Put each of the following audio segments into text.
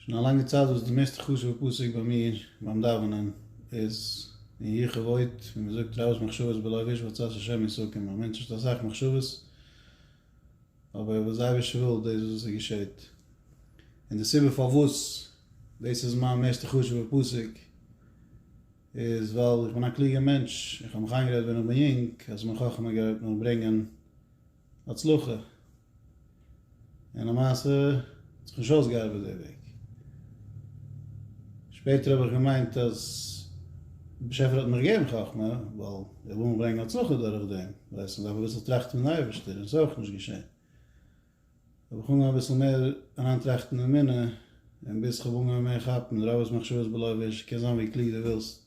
שוין א לאנגע צייט וואס די מערסטע חשוב'ע פסוק ביי מיר ביים דאווענען איז אין י ח ועוד, ווי מען זאגט רבות מחשבות בלב איש ועצת השם יסכים, א מענטש האט אסאך מחשבות אבער וואס דער אייבערשטער וויל דאס איז וואס עס געשעהט, און די סיבה פארוואס דאס איז מיין מערסטע חשוב'ע פסוק איז ווייל איך בין א קלוגער מענטש, איך האב מיך איינגערעדט ווען איך בין יונג אז מיין חכמה גייט מיר ברענגען הצלחה, און למעשה האט זיך נישט אויסגעארבעט די וועג. שפעטער האב איך געמיינט אז דער באשעפער האט מיר געגעבן חכמה, ווייל ער וויל מיר ברענגען הצלחה דורך דעם, דאס הייסט מען דארף אביסל טראכטן פון די אייבערשטער, און עס איז אויך נישט געשען. האב איך אנגעהויבן אביסל מער אריינטראכטן אין אמונה, און ביז כ'האב אנגעהויבן מער כאפן די רב'ס מחשבות בלא ויש, קען זיין ווי קלוג דו ווילסט,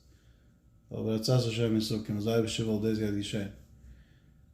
אבער רצה השם ישא כן, אז די אייבערשטער וויל דאס גייט געשען.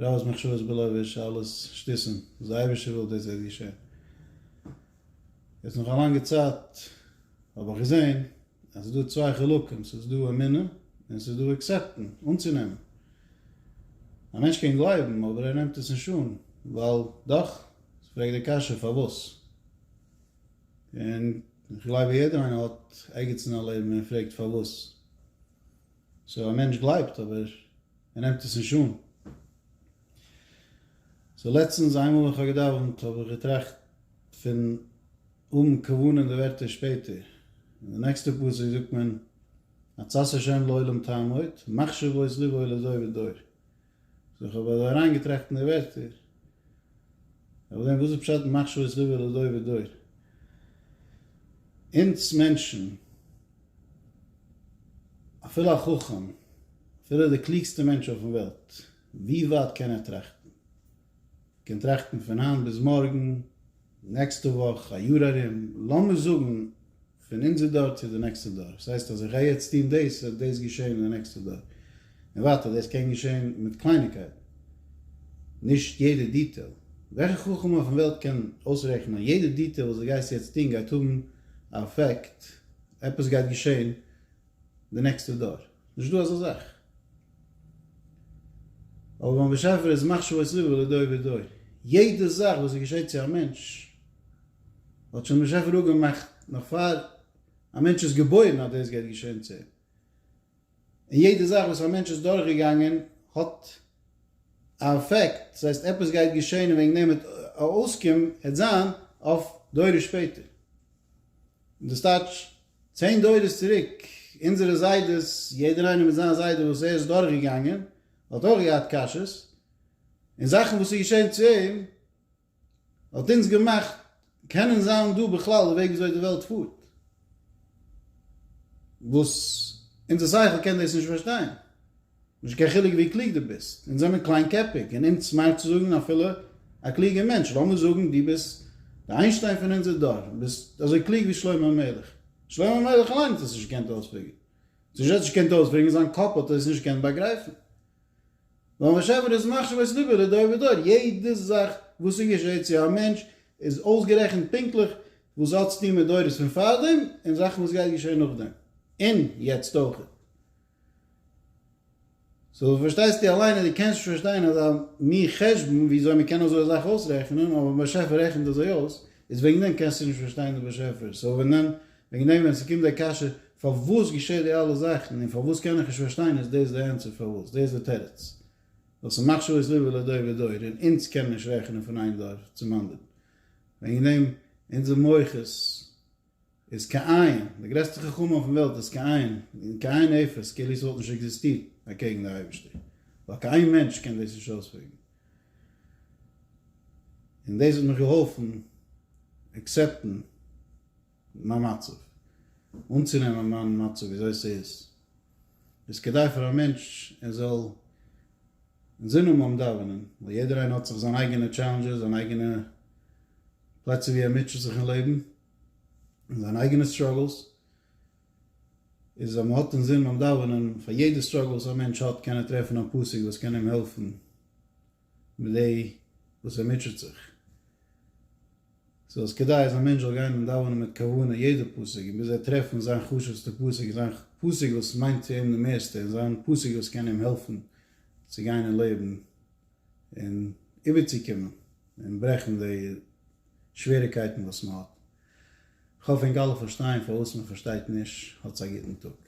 רעב איז מחשבות בלא ויש אלעס שטיסען וואס די אייבישטער וויל דאס וועט געשען. יעצט נאך א לאנגע צייט האב איך געזען אז ס'איז דא צוויי חלקים ס'איז דא אמונה און ס'איז דא עקסעפטען אנצונעמען. א מענטש קען גלייבן אבער ער נעמט עס נישט אן ווייל דאך ס'פרעגט די קשיא פארוואס? און איך גלייב אז יעדער איינער האט ערגעץ אין א לעבן און ער פרעגט פארוואס? סאו א מענטש גלייבט אבער. ער נעמט עס נישט אן. סאו לעצטנס איינמאל ווען כ'האב געדאווענט האב איך געטראכט פון האבן כוונה אין די ווערטער שפעטער. אין די נעקסטע פסוק זאגט מען עצת ה' לעולם תעמוד, מחשבות לבו לדור ודור. סאו כ'האב אזוי אריינגעטראכט אין די ווערטער, כ'האב געזען וואס איז פשט מחשבות לבו לדור ודור? אונז מענטשן. אפילו א חכם, אפילו דער קלוגסטער מענטש אויפן וועלט, ווי ווייט קען ער טראכטן? ער קען טראכטן פון היינט ביז מארגן, נעקסטע וואך, א יאר ארום, לאמיר זאגן פון אונזער דור צו די נעקסטע דור. וואס הייסט אז איך גיי יעצט טון דאס, וועט דאס געשען אין די נעקסטע דור, און ווייטער. דאס קען געשען מיט קלייניגקייטן, נישט יעדע דיטעיל. וועלכע חכם אויפן וועלט קען אויסרעכענען אז יעדע דיטעיל וואס דו גייסט יעצט טון גייט האבן א אפעקט? עפעס גייט געשען די נעקסטע דור, נישט דא אזא זאך. אבער ביים באשעפער איז מחשבות לבו לדור ודור, יעדע זאך וואס עס געשעט צו א מענטש האט שוין דער באשעפער אפגעמאכט נאך פאר א מענטש איז געבוירן אז דאס גייט געשען צו אים, און יעדע זאך וואס א מענטש איז דורך געגאנגען האט א אפעקט, דאס הייסט עפעס גייט געשען און וועגן דעם וועט א אויסקום העט זיין אויף דורות שפעטער, דאס טייטש צען דורות צוריק אונזערע זיידעס, יעדער איינער מיט זיין זיידע וואס ער איז דורך געגאנגען האט אויך געהאט קשיות און זאכן וואס איז געשען צו אים, האט אונז געמאכט קענען זיין דא בכלל די וועג וויאזוי די וועלט פארט, וואס אונזער שכל קען דאס נישט פארשטיין, נישט קיין חילוק ווי קלוג דו ביסט, אונז זענען קליינקעפיג און אומצמארט צו זאגן אפילו א קלוגער מענטש, לאמיר זאגן דו ביסט די איינשטיין פון אונזער דור, דו ביסט אזוי קלוג ווי שלמה המלך, שלמה המלך אליין האט עס נישט געקענט אויספיגערן, נישט ער האט עס נישט געקענט אויספיגערן, זיין קאפ האט עס נישט געקענט באגרייפן. ווייל וואס עווער איז מחשב את לבו לדור ודור, יעדע זאך וואס ס'געשעהט צו א מענטש איז אויסגערעכנט פונקטליך וואס ס'האט צו טון מיט דורות פון פארדעם און זאכן וואס גייט געשעהן נאכדעם און יעצט אויך. סאו פארשטייסטו אליין אז דו קענסט נישט פארשטיין אזא מין חשבון וויאזוי מ'קען אזוי א זאך אויסרעכענען אבער באשעפער רעכנט אזוי אויס איז וועגן דעם קענסטו נישט פארשטיין די באשעפער סאו ווען דען וועגן דעם ווען ס'קומט די קשיא פארוואס געשעט די אלע זאכן און פארוואס קען איך נישט פארשטיין איז דאס די ענטפער פארוואס, דאס די תירוץ ווייל ס'מאכט שעות ליבו לדור ודור און אונז קענען נישט רעכענען פון איין דור צום אנדערן וועגן דעם אונזער מח איז איז כאין, די גרעסטע חכמה אויפן וועלט איז כאין, כאין אפס כאילו ס'וואלט נישט עקזיסטירט אקעגן די אייבערשטער ווייל קיין מענטש קען דאס נישט אויספרעגן און דאס האט מיך געהאלפן עקסעפטן. מיין מצב. אנצונעמען מיין מצב וויאזוי ס'איז, איז כדי פאר א מענטש ער זאל אינזין האבן ביים דאווענען, ווייל יעדער איינער האט זיך זיין אייגענע טשעלענדזשעס, זיין אייגענע פלעצער ווי ער מוטשעט זיך אין לעבן, און זיינע אייגענע סטראגלס, איז אז מ'האט אינזין ביים דאווענען, פאר יעדע סטראגל וואס א מענטש האט קען ער טרעפן א פסוק וואס קען אים העלפן מיט די וואס ער מוטשעט זיך. סאו איז כדאי אז א מענטש זאל גיין און דאווענען מיט כוונה יעדע פסוק און ביז ער טרעפט פון זיין חשוב'סטע פסוק און זיין פסוק וואס מיינט צו אים די מערסטע און זיין פסוק וואס קען אים העלפן צו גיין אין לעבן און איבערצוקומען און ברעכן די שוועריקייטן וואס מען האט. כ'האף ענק אלע פארשטייען פארוואס מען פארשטייט נישט. האטס א גוטן טאג.